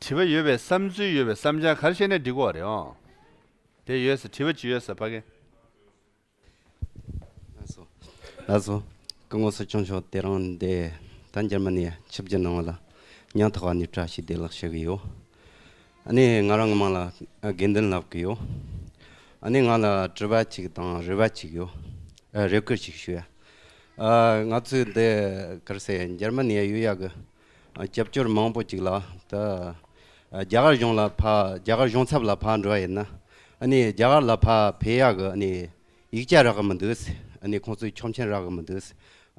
དྲི་བ་ཡོད་པའི་བསམ་ཚུལ་ཡོད་པའི་བསམ་བྱང་གར་བཤད་ནས་འགྲིག་གོ་རེད་ཨོ། དེ་ཡོད་ས་དྲི་བ་ཅི་ཡོད་ས་ཕ་གི། ལགས་སོ། སྐུ་ངོ་སོ་སྐྱོང་མཆོག་དེ་རང་འདས་ད་འཇར་མ་ནི་ཆིབས་བརྒྱ་གནང་བ་ལ་ཉང་ཐག་བ་ནི་བཀྲ་ཤིས་བདེ་ལགས་ཞུ་གི་ཡོད། ནས་ང་རང་གི་མིང་ལ་དགེ་འདུན་ལགས་ཀྱི་ཡོད། ནས་ང་ལ་དྲི་བ་ཅིག་དང་རེ་བ་ཅིག་ཡོད། རེ་བསྐུལ་ཅིག་ཞུ། ང་ཚོའི་འདི་གར་སའི་འཇར་མ་ནི་ཡོད་ཡག་གི་རྒྱབ་སྐྱོར་མང་པོ་ཅིག་ལ་ད་རྒྱ་གར་གཞུང་ལ་ཕ་རྒྱ་གར་གཞུང་ཚབ་ལ་ཕ་འགྲོ་བ་ཡིན་ན། ནས་རྒྱ་གར་ལ་ཕ་བེ་ཡག་གི་ནས་ཡིག་ཆ་རག་གི་མི་འདུག་ནས་ཁོང་ཚོའི་ཆོག་མཆན་རག་གི་མི་འདུག་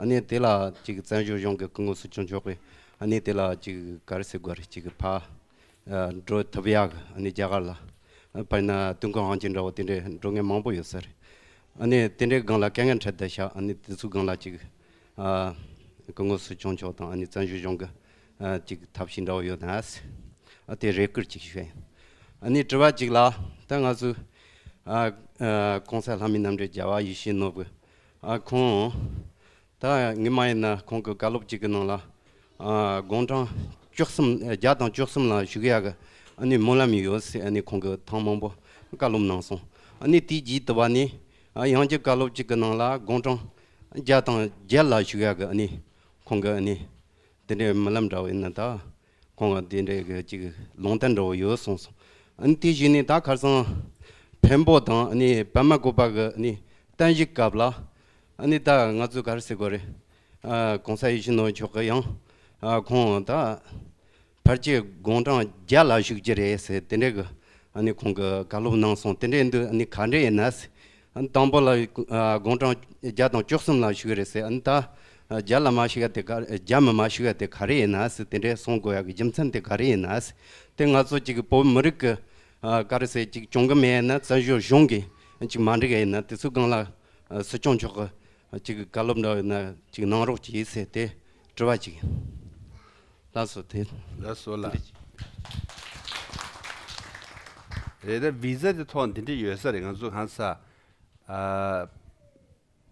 ནས་དེ་ལ་ཅིག་བཙན་བྱོལ་གཞུང་གི་སྐུ་ངོ་སུ་བྱུང་ཆོག་པའི་ནས་དེ་ལ་ཅིག་གར་སའི་སྒོ་རེ་ཅིག་ཕ། འགྲོ་ཐབས་ཡག་ཨ་ནི་རྒྱ་གར་ལ། དཔེར་ན་དུང་ཁང་ཧང་ཅིན་འདྲ་བོ་དེ་འདྲའི་འགྲོ་མཁན་མང་པོ་ཡོད་ཟེར། ཨ་ནི་དེ་འདྲའི་སྒང་ལ་སྐད་ངན་འཕྲད་བསྡད་བཞག་ཨ་ནི་དེ་ཚོའི་སྒང་ལ་ཅིག། སྐུ་ངོ་སུ་སྐྱོང་མཆོག་དང་ཨ་ནི་བཙན་བྱོལ་གཞུང་གི། ཅིག་ཐབས་ཤེས་འདྲ་བོ་ཡོད་ནས། ཨ་དེ་རེ་སྐུལ་ཅིག་ཞུས། ཨ་ནི་དྲི་བ་གཅིག་ལ། ད་ང་ཚོའི། ཨ། གོང་གསལ་ལྷ་མི་རྣམ་འདྲེན་རྒྱལ་བ་ཡེ་ཤེས་ནོར་བུ། ཨ་ཁོང། ད་ངེད་མ་ཡིན་ན་ཁོང་གི་བཀའ་སློབ་ཅིག་གི་ནང་ལ་དགོང་གྲངས་བཅུ་གསུམ་བརྒྱ་དང་བཅུ་གསུམ་ལ་བཞུགས་ཡག་གི་ཨ་ནི་སྨོན་ལམ་ཡོད་ཟེར་ཨ་ནི་ཁོང་གི་ཐང་མང་པོ་བཀའ་སློབ་གནང་སོང་ཨ་ནི་དེའི་རྗེས་དུ་བ་ནི་ཡང་གཅིག་བཀའ་སློབ་ཅིག་གི་ནང་ལ་དགོང་གྲངས་བརྒྱ་དང་བརྒྱད་ལ་བཞུགས་ཡག་གི་ཨ་ནི་ཁོང་གི་ཨ་ནི་དེ་འདྲའི་སྨོན་ལམ་འདྲ་བ་ཡིན་ན་ད། ཁོང་གིས་དེ་འདྲའི་གི་ཅིག་ལུང་བསྟན་འདྲ་བོ་ཡོད་གསུངས་སོང། ཨཱ་དེ་བཞིན་ནི་ད་ཁར་སང་བོན་པོ་དང་ནི་བོན་མ་གོ་པ་གི་ནི་བསྟན་བཤིག་སྐབས་ལ་ཨཱ་ནི་ད་ང་ཚོས་གར་སི་གོ་རེ་གོང་ས་ཡི་ཤི་ནོ་མཆོག་གི་ཡང་ཁོང་ད་ཕར་ཆེ་དགོང་གྲངས་བརྒྱད་ལ་བཞུགས་ཀྱི་རེད་ཟེར་དེ་འདྲའི་གི་ཨཱ་ནི་ཁོང་གི་བཀའ་སློབ་གནང་སོང་དེ་འདྲའི་འདུག་ཨཱ་ནི་ག་འདྲའི་ཡིན་ན་སི་དང་པོ་ལ་དགུང་གྲངས་བརྒྱ་དང་བཅུ་གསུམ་ལ་ཞུ་གི་རེད་ཟེར་ཨང། ད་བརྒྱ་ལ་མ་ཞུ་ཡ་དེ་ག་བརྒྱ་མི་མ་ཞུ་ཡ་དེ་ག་རེ་ཡིན་ཨང་ཟེར་དེ་འདྲའི་གསུང་དགོས་ཡ་གི་རྒྱུ་མཚན་དེ་ག་རེ་ཡིན་ཨང་ཟེར་དེ་ང་ཚོ་གཅིག་གི་བོད་མི་རིགས་ཀྱི་ག་རེ་ཟེར་གཅིག་སྐྱོང་གི་མེད་ཡིན་ན་བཙན་བྱོལ་གཞུང་གིས་གཅིག་མ་འགྲིག་ཡ་ཡིན་ན་དེ་ཚོའི་སྒང་ལ་སྲིད་སྐྱོང་མཆོག་གིས་གཅིག་གི་བཀའ་སློབ་འདྲ་ཡོད་ན་གཅིག་གནང་རོགས་གྱིས་ཟེར་དེ་དྲི་བ་གཅིག་ཡིན། ལ་སོ་དེ་ལ་སོ་ལ། རེད་ད Visa དེ་ཐོག་འདི་འདྲ་ཡོད་ས་རེད་ང་ཚོ་གང་ས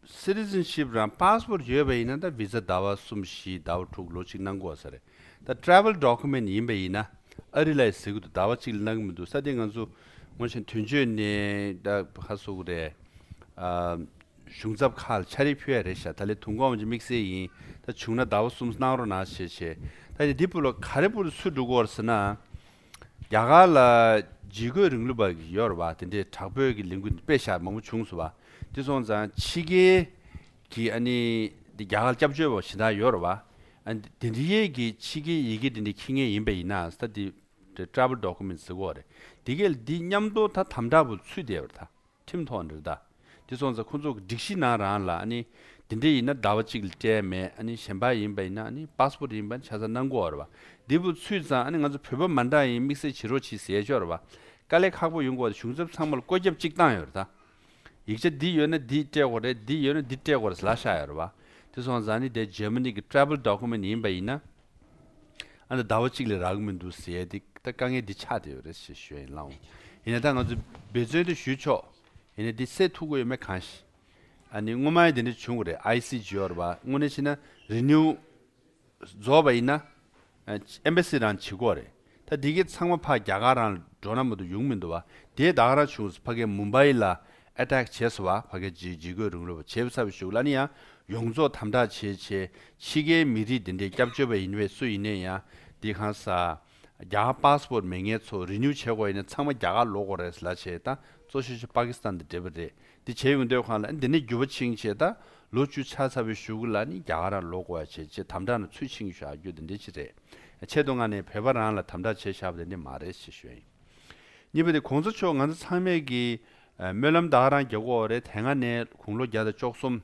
Citizenship རང Passport ཡོད་པ་ཡིན་ན་ད Visa ཟླ་བ་གསུམ་བཞི་ཟླ་བ་དྲུག་ལོ་གཅིག་གནང་དགོས་ས་རེད་ད Travel Document ཡིན་པ་ཡིན་ན་ཨ་རི་ལ་ཡི་ཟེར་གི་འདུག་ཟླ་བ་གཅིག་ལ་གནང་གི་མི་འདུག་ས་དེ་ང་ཚོ་སྔོན་བཞིན་དུས་མཆོད་ནས་ད་ག་སོ་གི་རེད། གཞུང་ཚབ་ཁག་ལ་ཆ་རེ་ཕུལ་ཡ་རེད་ཤག་ད་ལས་དུང་གོང་ཅིག་དམིགས་བསལ་ཡིན་ད་བྱུང་ན་ཟླ་བ་གསུམ་གནང་རོགས་གནང་ཞེས་བྱས་ད་ནི་འདི་སྤུ་ལ་ག་རེ་སྤུ་རུ་ཚུར་འགྲོ་གོ་ཟེར་ན། རྒྱ་གར་ལ་བརྗིད་རྒོད་རིང་ལུགས་པ་གི་ཡོད་རེད་བ་དེ་འདྲས་དྲག་བོད་ཀྱི་ལས་འགུལ་འདི་དཔེ་ཞག་མང་པོ་བྱུང་སོང་བ་དེ་སོང་ཙང་ཕྱི་རྒྱལ་གྱི་ཨ་ནི་འདི་རྒྱ་གར་སྐྱབས་བཅོལ་བ་བཞིན་དག་ཡོད་རེད་བ་ཨ་དེ་འདྲས་ཡས་ཀྱི་ཕྱི་རྒྱལ་ཡི་གེ་དེ་འདྲས་ཁྱི་ངན་ཡིན་པ་ཡིན་ནའང་ད་དེ་འདྲས Travel Documents ཟེར་གོ་རེད་དེ་གལ་ལ་འདི་མཉམ་དོ་ད་དམ་དྲག་པོ་ཚུད་བསྡད་པ་རེད་ད། ཁྲིམས་ཐོག་ནས་རེད་ད། དེ་སོང་ཙང་ཁོང་ཚོ་གི་སྒྲིག་གཞི་ནང་རང་ལ་ཨ་ནི། དེ་འདྲ་ཡིན་ན་ཟླ་བ་གཅིག་ལ་སྤྲད་མེད་ཨ་ནི་གཞན་པ་ཡིན་པ་ཡིན་ན་ཨ་ནི Passport ཡིན་པ་ནི་ཆ་ཚང་གནང་དགོས་རེད་བ། འདི་བུ་ཚུད་ཙང་ཨ་ནི་ང་ཚོ་བོད་པ་མ་འདྲ་ཡིན་དམིགས་བསལ་བྱེད་རོགས་བྱེད་ཟེར་ཆོག་རེད་བ། དཀའ་ལས་ཁག་པོ་ཡོང་དགོས་ད་གཞུང་ཚབ་ཚང་མ་ལ་བཀོད་ཁྱབ་གཅིག་བཏང་ཡོད་རེད་ད། ཡིག་ཆ་འདི་ཡོད་ན་འདི་སྤྲད་དགོས་རེད་འདི་ཡོད་ན་འདི་སྤྲད་དགོས་རེད་ཟེར་ལ་ཤག་ཡོད་རེད་བ། དེ་སོང་ཙང་ཨ་ནི་དེ Germany གི Travel Document ཡིན་པ་ཡིན་ན། ཨ་ན་ཟླ་བ་གཅིག་ལས་རག་གི་མི་འདུག་ཟེར་ཏེ་ད་དཀའ་ངལ་འདི་ཆགས་ཏེ་ཡོད་རེད་ཞེས་ཞུས་ཡིན་ལང། ཡིན་ན་ད་ང་ཚོས་འབད་བརྩོན་དེ་ཞུས་ཆོག་ཡིན་ནའི་འདི་སེ་ཐུག་གི་ཡོད་མེད་གང་ཤེས། ཨ་ནི་སྔོན་མ་ཡིན་དེ་འདྲ་བྱུང་གི་རེད ICGOR བ་དངོས་གནས་བྱས་ན Renew བཟོ་བ་ཡིན་ན Embassy རང་བྱེད་དགོས་རེད། ད་འདི་གི་ཚང་མ་ཕ་རྒྱ་གར་རང་ལ་འགྲོ་ན་མོ་དུ་ཡུང་མི་འདུག་བ་དེས་བདག་ག་རང་བྱུང་སུ་ཕ་གའི་མུན་པའི་ལ attack བྱས་སོ་བ་ཕ་གའི་ཇི་ཇི་གོས་རུང་རུ་བ་བྱས་བུ་ཚ་བའི་ཞུགས་ལ་ནི་ཡང་ཡོངས་རྫོགས་དམ་དྲག་བྱས་བྱས་ཕྱི་གའི་མི་རིགས་འདི་འདྲའི་སྐྱབས་བཅོལ་བ་ཡིན་བས་སུ་ཡིན་ནས་ཡང་འདི་གང་ས་རྒྱ་གར passport མེད་ངས་ཚོ renew བྱས་དགོས་ཡིན་ན་ཚང་མ་རྒྱ་གར་ལོག་དགོས་རེད་ལ་བྱས་ད་གཙོ་ཤོས་ཆེ་པ་ཀི་སི་ཐན་དང་འབྲེལ་བ་རེད་འདི་བྱེད་ཡོང་འདོད་གང་ལ་འདི་ནས་རྒྱུ་བ་ཆིངས་བྱེད་ད་ལོ་བཅུ་ཆ་ཚ་བོའི་ཞུགས་ལ་ནི་རྒྱ་གར་ར་ལོག་གོ་ཡ་བྱེད་ཅེས་དམ་དྲག་ན་ཚུལ་ཆིངས་བཞག་རྒྱུ་འདི་འདྲའི་ཅི་རེད་ཆེད་དུ་ང་ནས་བོད་པ་རང་ལ་དམ་དྲག་བྱེད་བཞག་པ་དེ་འདྲས་མ་རེད་ཅེས་ཞུ་ཡ་ཡིན་གཉིས་པ་དེ་གོང་ས་མཆོག་ང་ཚོ་ཚང་མས་ཀྱི་སྨོན་ལམ་དག་རང་རྒྱ་གོ་རེད་དེ་སྔ་ནས་དགུང་ལོ་བརྒྱ་དང་བཅོ་གསུམ་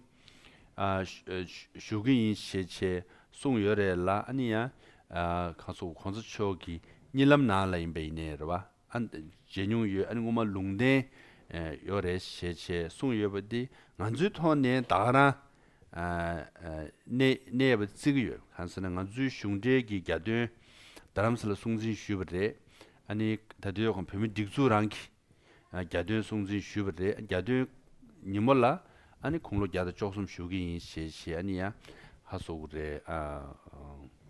བཞུགས་ཀྱི་ཡིན་ཞེས་ཆེས་གསུངས་ཡོད་རེད་ལ་ནི་ཡང་གང་སུ་གོང་ས་མཆོག་གི་གཉིད་ལམ་ནང་ལ་ཡིན་པ་ཡིན་ནའི་རེད་བ། ཨ། མཇལ་མྱོང་ཡོད་ཨ་ནི་སྔོན་མ་ལུང་བསྟན་ཡོད་རེད་ཞེས་བྱས་གསུངས་ཡོད་པ་འདི་ང་ཚོའི་ཐོག་ནས་ད་ག་རང་གནས་ཡས་པ་བརྩི་གི་ཡོད་གང་ཟེར་ན་ང་ཚོའི་གཞུང་འབྲེལ་གྱི་རྒྱ་དོན་རྡ་རམ་ས་ལ་སྲུང་འཛིན་ཞུས་པ་རེད་ཨ་ནི་ད་དུས་ཀྱང་བོད་མི་སྒྲིག་འཛུགས་རང་གི་རྒྱ་དོན་སྲུང་འཛིན་ཞུས་པ་རེད་རྒྱ་དོན་ཉིན་མོ་ལ་ཨ་ནི་ཁུངས་ལོ་བརྒྱ་དང་བཅོ་གསུམ་བཞུགས་ཀྱི་ཡིན་ཞེས་བཞེས་ཨ་ནི་ཡ་ཧ་སོགས་ཀྱི་རེད་ཨ།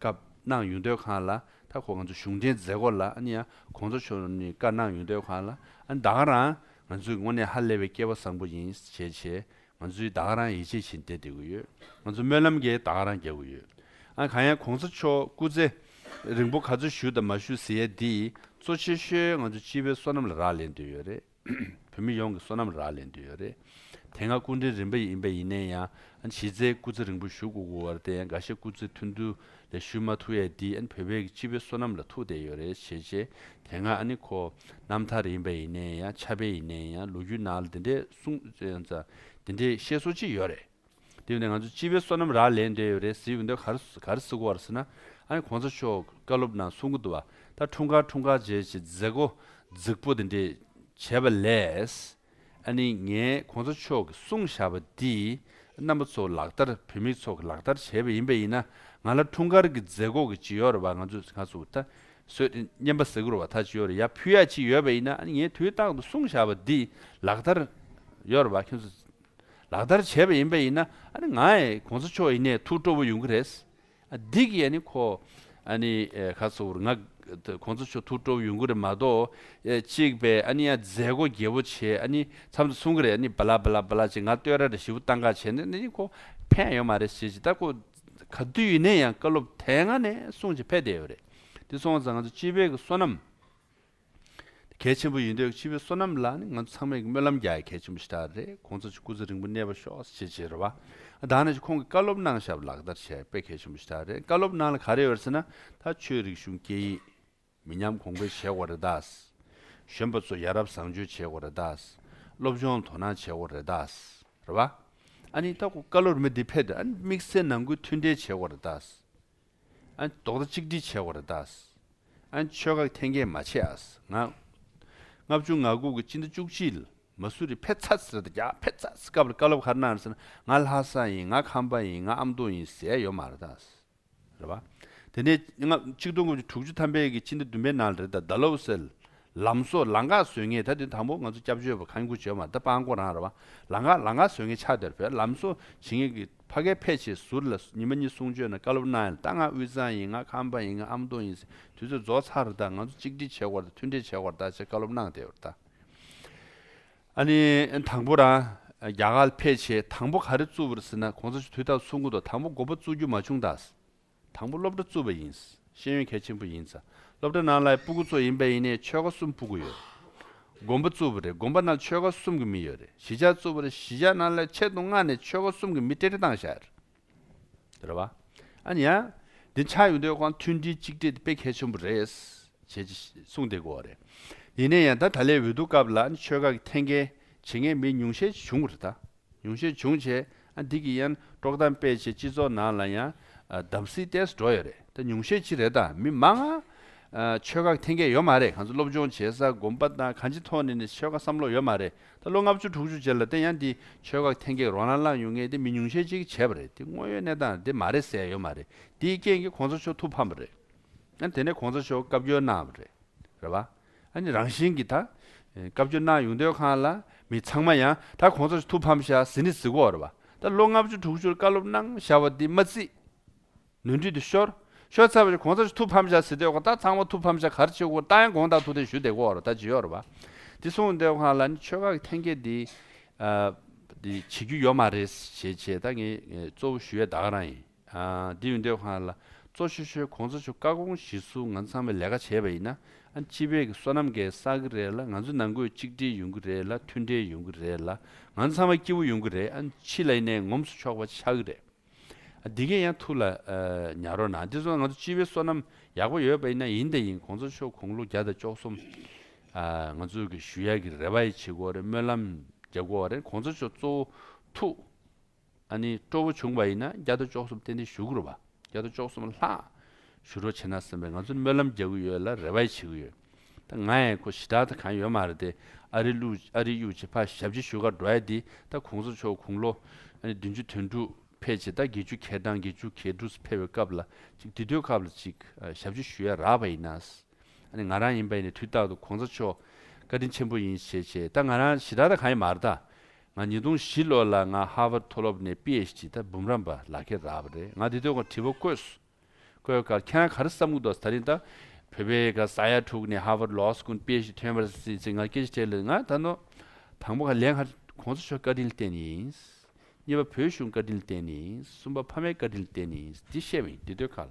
སྐབས་གནང་ཡུལ་སྡོད་ཁང་ལ་ད་ཁོ་ང་ཚོ་གཞུང་འབྲེལ་མཛད་སྒོ་ལ་ཨ་ནི་ཡ་གོང་ཚོ་ཆོ་ནི་བཀའ་གནང་ཡུལ་སྡོད་ཁང་ལ་ཨ་ནི་ད་ག་རང་ང་ཚོའི་དངོས་གནས་ཧ་ལས་པའི་སྐྱེ་བ་བཟང་པོ་ཡིན་ཞེས་བཞེས་ང་ཚོའི་ད་ག་རང་ཡིད་ཆེས་བཞིན་བསྡད་དེ་གུ་ཡོད་ང་ཚོ་སྨོན་ལམ་གྱི་ད་ག་རང་རྒྱག་གུ་ཡོད་ཨ་གང་ཡང་གོང་ཚོ་ཆོ་སྐུ་ཚེ་རིང་པོ་ག་ཚོད་བཞུགས་དང་མ་བཞུགས་ཟེར་ཡས་འདིས་གཙོ་ཆེ་ཤོས་ང་ཚོ་སྤྱི་བའི་བསོད་ནམས་ལ་རག་ལས་འདོད་ཡོད་རེད། བོད་མི་ཡོངས་ཀྱི་བསོད་ནམས་རག་ལས་འདོད་ཡོད་རེད། དེ་སྔ་སྐུ་འཕྲེང་རིམ་པ་ཡིན་པ་ཡིན་ནའི་ཡང་གཞི་རྩའི་སྐུ་ཚེ་རིང་པོ་བཞུགས་དགོས་དགོས་བར་དེ་ཡང་འགའ་ཤས་སྐུ་ཚེ་ཐུང་དུ་ལས་བཞུགས་མ་ཐུབ་ཡས་འདི་བོད་པའི་སྤྱི་བའི་བསོད་ནམས་ལ་ཐུག་བསྡད་ཡོད་རེད་བྱས་རྗེས་དེ་སྔ་ཁོ་རྣམ་ཐར་ཡིན་པ་ཡིན་ནའི་ཡང་ཆབ་དཔལ་ཡིན་ནའི་ཡང་ལོ་རྒྱུས་ནང་ལ་འདི་འདྲའི་གསུངས་འདི་འདྲའི་བཤད་སྲོལ་ཅི་ཡོད་རེད། དེ་བས་ན་ང་ཚོ་སྤྱི་བའི་བསོད་ནམས་རག་ལས་འདས་ཡོད་རེད་ཟེར་ཡོད་འདུག་ག་རེ་སུ་གོ་བར་ཟེར་ན་ཨ་ནི་གོང་ས་མཆོག་བཀའ་སློབ་ནང་གསུང་གི་འདུག་བ་ད་འཁྲུངས་སྐར་འཁྲུངས་སྐར་རྗེས་ཀྱི་མཛད་སྒོ་རྫིག་པོ་དེ་འདྲས་བྱས་པ་ལས། ཨ་ནི་ངས་གོང་ས་མཆོག་གི་གསུང་བཞག་པ་འདིས་རྣམ་པ་ཚོ་ལག་བསྟར་བོད་མི་ཚོ་ལག་བསྟར་བྱས་པ་ཡིན་པ་ཡིན་ན་ང་ལ་འཁྲུངས་སྐར་གྱི་མཛད་སྒོ་གི་ཇི་ཡོར་བ་ང་ཚོས་ང་ཚོ་ད་གཟོད་བསྙེན་པ་གཟིགས་རོགས་བ་ད་ཇི་ཡོར་ཡ་ཕུལ་ཡ་ཅི་ཡོད་པ་ཡིན་ན་ཨ་ནི་ངས་དུས་རྟག་ཏུ་གསུང་བཞག་པ་འདིས་ལག་བསྟར་ཡོར་བ་ཁྱོད་ཚོ་ལག་བསྟར་བྱས་པ་ཡིན་པ་ཡིན་ན་ང་ཡི་གོང་ས་མཆོག་ཡིན་ནའི་ཐུགས་སྤྲོ་བོ་ཡོང་གི་རེད། འདི་གི་ཡ་ནི་ཁོ་ཨ་ནི་ག་ཚོ་བོར་ང་གོང་ས་མཆོག་ཐུགས་སྤྲོ་བོ་ཡོང་གི་རེད་མ་གཏོགས་གཅིག་པས་ཨ་ནི་ཡ་མཛད་སྒོ་རྒྱས་པོ་བྱས་ཨ་ནི་འཚམས་འདྲི་གསུང་གི་རེད་ཨ་ནི་བལ་བལ་བལ་བྱས་ང་ལྟོས་ར་རེ་ཞིབ་བཏང་ག་བྱས་ནས་འདི་ནི་ཁོ་ཕན་ཡོད་མ་རེད་ཞེས་ཇི་ལྟར་ཁོ་ག་དུས་ཡིན་ནའི་ཡང་བཀའ་སློབ་དེ་སྔ་ནས་གསུང་བྱས་ཕེབས་བསྡད་ཡོད་རེད་དེ་སོང་ཙང་ང་ཚོ་སྤྱི་བེ་གི་བསོད་ནམས། གལ་ཆེན་པོ་ཡིན་འདོད་ཕྱི་བའི་བསོད་ནམས་ལ་ནི་ང་ཚོ་ཚང་མས་ཀྱི་སྨོན་ལམ་རྒྱག་ཡ་གལ་ཆེན་པོ་ཞིག་ད་རེད་ཁོང་ཚོ་ཆུ་སྐུ་ཚེ་རིང་པོ་གནས་པ་ཤོག་ཅེས་བརྗེད་ར་བ་ད་ནས་ཀྱི་ཁོང་གི་བཀའ་སློབ་གནང་ཞབས་ལག་བསྟར་བྱས་དཔེ་གལ་ཆེན་པོ་ཞིག་ད་རེད་བཀའ་སློབ་གནང་ལ་ག་རེ་ཡོད་ཟེར་ན་ད་ཆོས་རིག་གཞུང་སྐད་ཡིག་མི་ཉམས་གོང་འཕེལ་བྱེད་དགོས་རེད་དཱས། གཞོན་པ་ཚོ་ཡ་རབས་བཟང་སྤྱོད་བྱེད་དགོས་རེད་དཱས། སློབ་སྦྱོང་དོ་སྣང་བྱེད་དགོས་རེད་དཱས་ར་བ། ཨ་ནི་ད་ཁོ་བཀའ་སློབ་རེ་མི་འདི་ཕེབས་དུས་ཨ་ནི་དམིགས་བསལ་ནང་ཁུལ་མཐུན་འབྲེལ་བྱེད་དགོས་རེད་དཱས། རྡོག་རྩ་གཅིག་སྒྲིལ་བྱས་བར་བརྟག། ཆོལ་ཁ་འཐེན་འཁྱེར་མ་བྱས་ང། ལྔ་བཅུ་ང་དགུ་གི་སྤྱི་ཟླ་བཅུ་གཅིག་ལ་མ་སུ་རི་བྷེ་ཚ་ཟེར་ད་རྒྱ་བྷེ་ཚ་ཟེར་སྐབས་ལ་བཀའ་སློབ་ཁར་གནང་ཟེར་ང་ལྷ་ས་ཡིན་ང་ཁམས་པ་ཡིན་ང་ཨ་མདོ་ཡིན་ཟེར་ཡ་ཡོད་མ་རེད་ད། རེད་པ། དེ་ནས་ལྔ་གཅིག་སྟོང་དགུ་བཅུ་དྲུག་ཅུ་ཐམ་པའི་གི་སྤྱི་ཟླ་བདུན་པའི་ནང་ལ་རེད་ད་ད་ལོ་ཟེར། ལམ་སོགས་ལང་ཀ་བཟོས་ངེས་ད་དེ་དང་པོ་ང་ཚོ་སྐྱབས་བཅོལ་བ་གང་མགོ་བྱེད་མ་རེད་ད་སྤང་ཀོ་རང་རེད་པ། ལང་ཀ་ལང་ཀ་བཟོས་ངེས་ཆ་དེར་བས་ལམ་སོགས་བྱེད་ངེས་གི། ཕ་གའི་ཕལ་ཆེར་ཟུར་ལ་ཉི་མ་གཉིས་གསུང་ཆོས་ན་བཀའ་སློབ་གནང་ཡང་རྟ་རྔ་དབུས་གཙང་ཡིན་ང་ཁམས་པ་ཡིན་ང་ཨམ་སྟོང་ཡིན་ཟེར་དུས་ཚོད་རྫོགས་ཚར་རེ་ད་ང་ཚོ་གཅིག་སྒྲིལ་བྱེད་དགོས་རེད་མཐུན་འབྲེལ་བྱེད་དགོས་རེད་ད་ཅེས་བཀའ་སློབ་གནང་བསྡད་ཡོད་རེད་ད། ཨ་ནི་དང་པོ་རང་རྒྱ་གར་ཕལ་ཆེར་དང་པོ་ག་རེ་བཙུགས་པ་རེད་ཟེར་ན་གོང་ས་མཆོག་དུས་རྟགས་ཚུགས་མགོ་ཐོག་དང་པོ་མགོ་པོ་བཙུགས་རྒྱུ་མ་བྱུང་ད། དང་པོ་སློབ་གྲྭ་བཙུགས་པ་ཡིན། ཤེས་ཡོན་གལ་ཆེན་པོ་ཡིན། སློབ་གྲྭ་ནང་ལའི་སྤུ་གུ་གཙོ་ཡིན་པ་ཡིན་ནས་ཆོལ་ཁ་གསུམ་སྤུ་གུ་ཡོད། དགོན་པ་བཙུགས་པ་རེད་དགོན་པ་ནང་ཆོལ་ཁ་གསུམ་གྱི་མི་ཡོད་རེད་གཞིས་ཆགས་བཙུགས་པ་རེད་གཞིས་ཆགས་ནང་ལའི་ཆེད་དུ་མངགས་ནས་ཆོལ་ཁ་གསུམ་གྱི་མི་ཏྲེ་ཏྲེ་བཏང་བཞག་རེད། རེད་བ། ཨ་ནི་ཡ། འདི་ཆགས་ཡོད་འདོད་ཁོང་མཐུན་སྒྲིལ་གཅིག་སྒྲིལ་དེ་དཔེ་གལ་ཆེན་པོ་རེད། བྱེད་ཅེས་གསུངས་དེ་གོ་བ་རེད། ཡིན་ནས་ཡང་ད་ད་ལའི་འོས་བསྡུ་སྐབས་ལ་ཨ་ནི་ཆོལ་ཁ་གི་འཐེན་འཁྱེར་བྱེད་མཁན་མི་ཉུང་ཤས་ཆེ་བྱུང་བ་རེད་ད། ཉུང་ཤས་བྱུང་བྱས་ཨ་འདི་གི་ཡན་ཀྲོག་དམ་དཔེ་ཆེ་སྤྱི་ཚོགས་ནང་ལ་ཡང་གདམ་གསིས་ཏེས་འགྲོ་ཡོད་རེད་ད་ཉུང་ཤས་ཅི་རེད་ད་མི་མང་ཨ་ཆོལ་ཁ་འཐེན་མཁན་ཡོད་མ་རེད་གང་ཚོ་སློབ་སྦྱོང་བྱེད་ས་གོམ་པ་དང་གང་ཅི་ཐོག་ནས་ནས་ཆོལ་ཁ་བསམ་བློ་ཡོད་མ་རེད་ད་ལོ་ལྔ་བཅུ་དྲུག་ཅུ་ཅེར་ལ་བརྟེན་ཡང་འདི་ཆོལ་ཁ་འཐེན་མཁན་རོ་ལང་ལང་ཡོད་ངེས་འདི་མི་ཉུང་ཤས་ཅིག་གིས་བྱས་པ་རེད་འདི་དངོས་ཡོད་གནས་སྟངས་འདི་མ་རེད་ཟེར་ཡ་ཡོད་མ་རེད་འདིའི་རྐྱེན་གྱིས་གོང་ས་མཆོག་ཐུགས་ཕམ་པ་རེད་ཨ་དེ་ནས་གོང་ས་མཆོག་བཀའ་བཀྱོན་གནང་བ་རེད་རེད་བ། ཨ་ནི་རང་བཞིན་གྱིས་ད། སྐབས་བཅུ་སྣང་ཡུངས་འདོད་ཁང་ལ་མི་ཚང་མ་ཡང་ད་གོང་ཚར་ཐུགས་ཕམ་བཞག་ཟིན་ནི་གཟིགས་གོ་ར་བ། ད་ལོ་ལྔ་བཅུ་དྲུག་ཅུར་བཀའ་སློབ་གནང་བཞག་བ་འདི་མ་བརྩིས། ནོན་འཁྲུལ་དུ་ཤོར། ཤོར་ཚར་བ་ཞིག་གོང་ཚར་ཐུགས་ཕམ་བཞག་ཟིན་འདོད་ཁང་ད་ཚང་མ་ཐུགས་ཕམ་བཞག་གར་ཆེ་གོ་ད་ཡང་དགོངས་དག་ཐུགས་རྟེན་ཞུ་བདེ་གོ་ར་བ་ད་ཇི་ཡོ་ར་བ། འདི་གསུངས་འདོད་ཁང་ལ་ནི་ཆོས་ཁག་གི་ཐེན་སྐྱེད་འདི། བྱེད་རྒྱུ་ཡོ་མ་རེད་ཞེས་བྱས་ད་ངས་གཙོ་བོ་ཞུ་ཡས་ད་ག་རང་ཡིན། འདི་ཡོན་ཏན་ཧོན་ལ་གཙོ་ཆེ་ཤོས་གོང་ས་ཆོས་བཀའ་དགོངས་གཞི་བསུ་ང་ཚང་བའི་ལས་ཀ་བྱས་པ་ཡིན་ན་སྤྱི་བེ་གི་སོ་ནམ་གས་ས་གི་རེད་ལ་ང་ཚོ་ནང་སྒོས་གཅིག་སྒྲིལ་ཡོང་གི་རེད་ལ་མཐུན་འབྲེལ་ཡོང་གི་རེད་ལ་ང་ཚང་བ་སྐྱིད་བོ་ཡོང་གི་རེད་ཕྱི་ལ་ཡིན་ནའི་ངོམ་སོ་ཆོག་པ་ཆག་གི་རེད་འདི་གས་ཡང་ཐུགས་ལ་ཉར་རོགས་གནང་འདི་ཚོ་ང་ཚོ་སྤྱི་བེ་སོ་ནམ་ཡག་པོ་ཡོད་པ་ཡིན་ན་ཡིན་དང་ཡིན་གོང་ས་ཆོས་གོང་ལོ་བརྒྱ་དང་བཅོ་གསུམ་ང་ཚོ་གི་ཞུ་ཡག་གི་རེ་བ་ཡི་ཆེ་གོ་རེ་སྨོན་ལམ་རྒྱ་གོ་རེ་གོང་ས་ཆོས་གཙོ་བོ་ཐུགས། ཨ་ནི་སྤྲོ་བོ་བྱུང་བ་ཡིན་ན་རྒྱ་དོ་ཅོག་གསུམ་གཏན་གཏན་ཞུ་གི་རོགས་པ་རྒྱ་དོ་ཅོག་གསུམ་ལྷག་ཞུ་རོགས་བྱེད་ན་གསུམ་པས་ང་ཚོ་སྨོན་ལམ་རྒྱག་གི་ཡོད་ལ་རེ་བ་ཡི་བྱེད་གི་ཡོད་ད་ང་ཡི་ཁོ་ཞི་དྲག་ད་གང་ཡོད་མ་རེད་དེ་ཨ་རི་གླུ་ཨ་རི་གཡུག་བྱེད་ཕ་ཞབས་ཕྱི་ཞུ་ག་འགྲོ་ཨེ་དེ་ད་གོང་ས་མཆོག་དགུང་ལོ་ཨ་ནི་བདུན་ཅུ་དོན་དྲུག་ཕེབས་བྱེད་ད་དགེ་བཅུ་གས་དང་དགེ་བཅུ་གས་འབྲུག་སུ་ཕེབས་བའི་སྐབས་ལ་ཅིག་དེ་དུས་སྐབས་ལ་ཅིག་ཞབས་ཕྱི་ཞུ་ཡ་རག་པ་ཡིན་ན་ཨ་ནི་ང་རང་ཡིན་པ་ཡིན་ནས་དུས་རྟག་ཏུ་གོང་ས་མཆོག་བཀའ་དྲིན་ཆེན་པོ་ཡིན་བྱེད་བྱེད་ད་ང་རང་ཞི་དྲག་ད་གང་ཡོད་མ་རེད་ད་ང་ཉིས་སྟོང་བཞི་ལོ་ལ་ང་ཧ་ཝར་མཐོ་སློབ་ནས PHD ད་འབུམ་རམས་པ་ལག་འཁྱེར་རག་པ་རེད་ང་དེ་དུས་ཁོང་དྲི་བ་བཀོད། བཀོད་ཁར་ཁྱེད་རང་ག་རེ་བསམ་གི་འདུག་ད་རིང་ད་བོད་པའི་ག་ས་ཡ་དྲུག་ནས་ཧ་ཝར་ལོག་སུ་ཁོང PHD ཐོན་པར་སྲིད་ཚེ་ང་སྐད་ཆ་དྲིས་ལ་ང་ད་ནོ། དང་པོ་ཁ་ལས་ཁར་གོང་ས་མཆོག་བཀའ་དྲིན་ལྟན་ཡིན། གཉིས་པ་བོད་གཞུང་བཀའ་དྲིན་ལྟན་ཡིན་གསུམ་པ་ཕ་མའི་བཀའ་དྲིན་ལྟན་ཡིན་འདི་བཤད་པ་ཡིན་དེ་དུས་ཁ་ལ།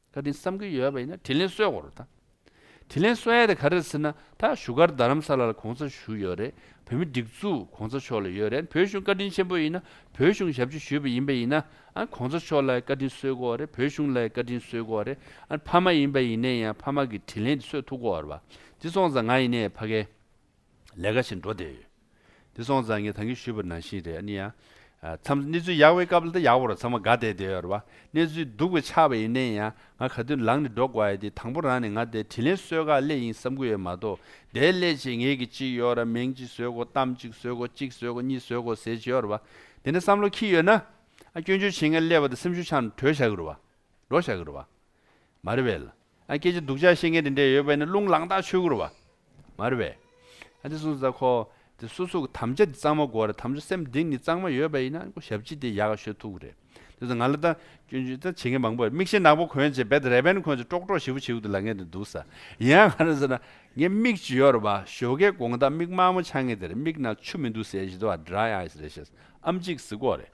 ད་དེ་བསམ་གྱི་ཡོད་པ་ཡིན་ན་དྲིན་ལན་གསོས་དགོས་རེད་ད། དྲིན་ལན་གསོ་ཡ་དེ་ག་རེད་ཟེར་ན་ད་བཞུགས་སྒར་རྡ་རམ་ས་ལ་ལ་གོང་ས་བཞུགས་ཡོད་རེད་བོད་མི་སྒྲིག་འཛུགས་གོང་ས་མཆོག་ལ་ཡོད་རེད་བོད་གཞུང་བཀའ་དྲིན་ཆེན་པོ་ཡིན་ན་བོད་གཞུང་ཞབས་ཕྱི་ཞུས་པ་ཡིན་པ་ཡིན་ན་ཨ་གོང་ས་མཆོག་ལ་བཀའ་དྲིན་གསོས་དགོས་རེད་བོད་གཞུང་ལ་བཀའ་དྲིན་གསོས་དགོས་རེད་ཨ་ཕ་མ་ཡིན་པ་ཡིན་ནས་ཡང་ཕ་མ་གི་དྲིན་ལན་དེ་གསོས་ཐུབ་དགོས་རེད་བ་དེ་སོང་ཙང་ང་ཡིན་ནས་ཕ་གའི། ལས་ཀ་ཞིག་འགྲོ་བསྡད་ཡོད། དེ་སོང་ཙང་ངས་ད་གིན་ཞུས་པར་ནང་བཞིན་རེད་ཨ་ནི་ཡང། མཚམས་གནས་ཚུལ་ཡག་པའི་སྐབས་ལ་ད་ཡག་པོ་རོ་ཚང་མ་དགའ་བསྡད་བསྡད་ཡོད་རེད་བ། གནས་ཚུལ་སྡུག་པའི་ཆགས་པ་ཡིན་ནའི་ཡང་ང་ག་དུས་ལངས་ནས་འགྲོ་དགོས་ཡོད་དེ་དང་པོ་རང་ནས་ང་དེ་དྲིན་ལན་སོས་ག་སླད་ཡིན་བསམ་གི་ཡོད་མ་གཏོགས་དེའི་སླད་ཅིག་ངེད་ཀྱི་ཅིག་ཡོད་ར་མིང་ཅིག་བཟོས་གོ་གཏམ་ཅིག་བཟོས་གོ་གཅིག་བཟོས་གོ་གཉིས་བཟོས་གོ་ཟེར་གྱི་ཡོད་རེད་བ། དེ་འདྲ་བསམ་བློ་ཁྱི་ཡོད་ན། ཨ་སྐྱོན་བརྗོད་བྱེད་མཁན་སླེབས་པ་དང་སེམས་ཤུགས་ཆག་ནས་བྲོས་བཞག་གི་རེད་བ། འགྲོ་བཞག་གི་རེད་བ། མ་རེད་བས་ལ། སྐད་ཅིག་སྡུག་ཅག་བཤད་མཁན་དེ་འདྲས་ཡོད་པས་ནི་རླུང་ལངས་རྟགས་ཆོས་སྐུར་བ། མ་རེད་པས། ཨ་ཏི་སུ་ཟ་ཁོ། དེ་སོ་སོ་གི་དམ་བཅའ་དེ་གཙང་མ་གོ་རེད་དམ་བཅའ་སེམས་གདིང་ནི་གཙང་མ་ཡོད་པ་ཡིན་ན་ཞབས་ཕྱི་དེ་ཡག་ཤོས་ཐུག་རེད། དེ་ཚོ་ང་ལ་ད། སྐྱོན་བརྗོད་ད་བྱེད་མཁན་མང་པོ་ཡོད་མིག་ཤེལ་ནག་པོ་གོན་བྱས་བེད་རེད་བས་ནི་ཁོ་ཚོས་ཀྲོག་ཀྲོག་ཞིབ་བུ་ཞིབ་བུ་དེ་ལ་ངས་དེ་འདུག་ས། ཡིན་ཡང་ང་རང་ཟེར་ན། ངས་མིག་ཅི་ཡོད་རེད་བ། ཞོ་ཁའི་དགོངས་དག་མིག་དམར་མོ་ཆགས་ངེས་དེ་རེད་མིག་ནང་ཆུ་མི་འདུག་ཟེར་བཞིན་དུ་བ dry eyes རེད་བཤད། ཨམ་གཅིག་གཟིགས་འོག་རེད།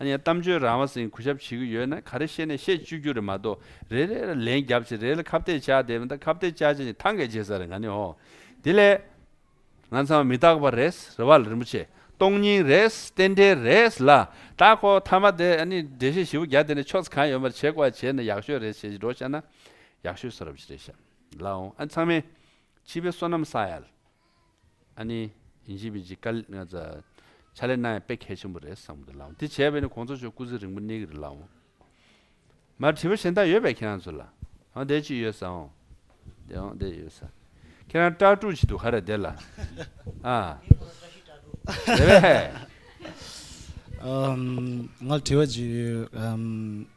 ཡང་གཏམ་བརྗོད་རང་བ་ཟིན་གུས་ཞབས་བྱེད་ཀྱི་ཡོད་ན་ག་རེ་བཤད་ནས་བཤད་བཅུག་རྒྱུ་རེད་མ་གཏོགས་རེ་རེ་ལ་ལན་རྒྱབ་ཅིག་རེ་རེ་ལ་ཁ་བརྡས་བཅག་བསྡད་མི་འདག་ཁ་བརྡས་བཅག་བཅག་ནས་ཐང་གས་བྱེད་ས་རེད་ག་ནི་ཧོ། དེ་ལས། ང་ཚང་མི་རྟག་པ་རེད། རེ་བ་ལ་རིན་པོ་ཆེ། སྟོང་སྙིང་རེད། རྟེན་འབྲེལ་རེད། ལ་དྭགས་ཁོ་ཐ་མ་དེ་ཨ་ནི་འགྲེལ་བཤད་བཞི་བོ་བརྒྱ་དེ་ནས་ཕྱོགས་ཚ་གང་ཡོད་མ་རེད་བྱེད་དགོས་བྱས་ན་ཡག་ཤོས་རེད་བྱས་ཤིག་འགྲོ་བཤད་ན་ཡག་ཤོས་སོ་རབ་བྱས་རེད་བཤད། ལ་ཨོང་ཨ་ཚང་མས། སྤྱི་པའི་བསོད་ནམས་བསགས་ཡ། ཨ་ནི། ཡིན་ཞིན་པིན་གྱིས་བཀའ་ལས་ལྔ་བཅའ། ཕྱག་ལས་གནང་ཡང་དཔེ་གལ་ཆེན་པོ་རེད་བསམ་གི་ལགས། འདི་བྱས་པས་ནི་གོང་ཚོགས་ཆོས་སྐུ་ཚེ་རིང་པོ་གནས་ཀྱི་རེད་ལགས། མར་དྲི་བ་གཞན་དག་ཡོད་པས་ཁྱེད་རང་ཚོ་ལ། འོང་བསྡད་ཅིག་ཡོད་ས་འོང། བསྡད་འོང་བསྡད་ཡོད་ས། ཁྱེད་རང་སྐྲག་དཀྲུགས་བྱེད་དུ་ག་རེ་བསྡད་ལ། ཨ། རེད་བས། ང་ལ་དྲི་བ་གཅིག་ཡོད།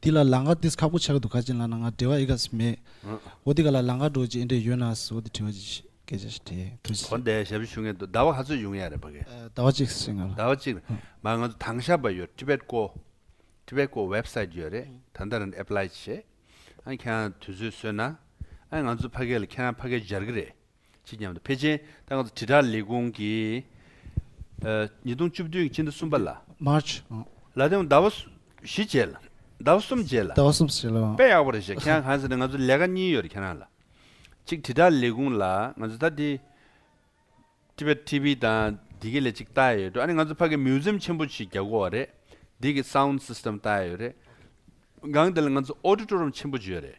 འདི་ལ་ལང་ཀ་འདིས་ཁག་པོ་ཆགས་ཀྱི་འདུག་ག་ཅན་ལ་ན་ང་འབྲེལ་བ་ཨི་ག་ཟི་མེད། འོ་འདི་ག་ལ་ལང་ཀ་འགྲོ་རྒྱུ་ཨེ་འདྲས་ཡོད་ན་ཟི་འོ་འདི་བྲི་བ་ཅིག་སྐད་ཆ་ཞིག་དྲིས་དྲིས་ཟིན། འོ་འདའི་ཞབས་ཞུ་ཞུ་མཁན་དུ་ཟླ་བ་ག་ཚོད་ཡོང་ཡ་རེད་བ་གེ། ཟླ་བ་གཅིག་ཟིན་ང་ལ། ཟླ་བ་གཅིག་རེད་མ་ང་ཚོ་དང་ཞབས་པ་ཡོད Tibet ཀོ Tibet ཀོ Website ཡོད་རེད་ད་ལྟ་རང Apply བྱེད་ཨ་ཁྱེད་རང་དུས་ཚོད་བཟོས་ན་ཨ་ང་ཚོ་ཕ་གེ་ལ་ཁྱེད་རང་ཕ་གེ་སྦྱར་གི་རེད། ཕྱི་རྒྱལ་དང་བྷེ་ཇེན་ཏང་དྲིལ་བསྒྲགས་ལས་ཁུངས་ཀྱིས་ཉིས་སྟོང་བཅུ་བདུན་གྱི་ཕྱི་ཟླ་གསུམ་པ་ལ། March། ལ་དེང་ཟླ་བ་བཞི་རྗེས་ལ། ཟླ་བ་གསུམ་རྗེས་ལ། ཟླ་བ་གསུམ་རྗེས་ལ། དཔེ་ཡག་པོ་རེད་བཤད་ཁྱེད་རང་གང་ཟེར་ན་ང་ཚོ་ལས་ཀ་གཉིས་ཡོད་རེད་ཁྱེད་རང་ལ། གཅིག་དྲིལ་བསྒྲགས་ལས་ཁུངས་ལ་ང་ཚོ་ད་དེ། Tibet TV དང་འདི་གའི་ལས་གཅིག་བལྟ་ཡས་ཡོད་འགྲོ་ཨ་ནི་ང་ཚོ་ཕ་གི Museum ཆེན་པོ་ཞིག་རྒྱག་དགོས་བ་རེད་འདི་གི Sound System བལྟ་ཡས་ཡོད་རེད། སྒང་འདི་ལ་ང་ཚོ Auditorium ཆེན་པོ་ཅིག་ཡོད་རེད།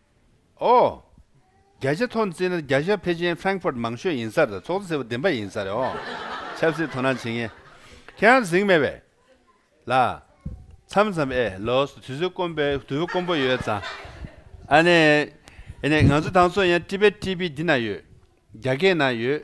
ཨོ། རྒྱ་ཆེ་མཐོ་བརྩིས་ན་རྒྱ་ཤར་བྷེ་ཅན Frankfurt མང་ཤོས་ཡིན་ས་རེད་ཚོགས་གཙོ་ཟེར་བ་བདེན་པ་ཡིན་ས་རེད་ཨོ། ཆབ་སྲིད་དོ་སྣང་བྱེད་མཁན་ཁྱེད་རང་གཟིགས་མེད་པས། ལ། མཚམས་མཚམས་ཨེ་ལོས་དུས་ཚོད་དཀོན་པའི་དུས་དཀོན་པོ་ཡོད་ཙང། ཨ་ནེ། ཨེ་ནེ་ང་ཚོ་དང་ཚོ་ཡང Tibet TV འདི་ན་ཡོད། རྒྱ་སྐད་ན་ཡོད།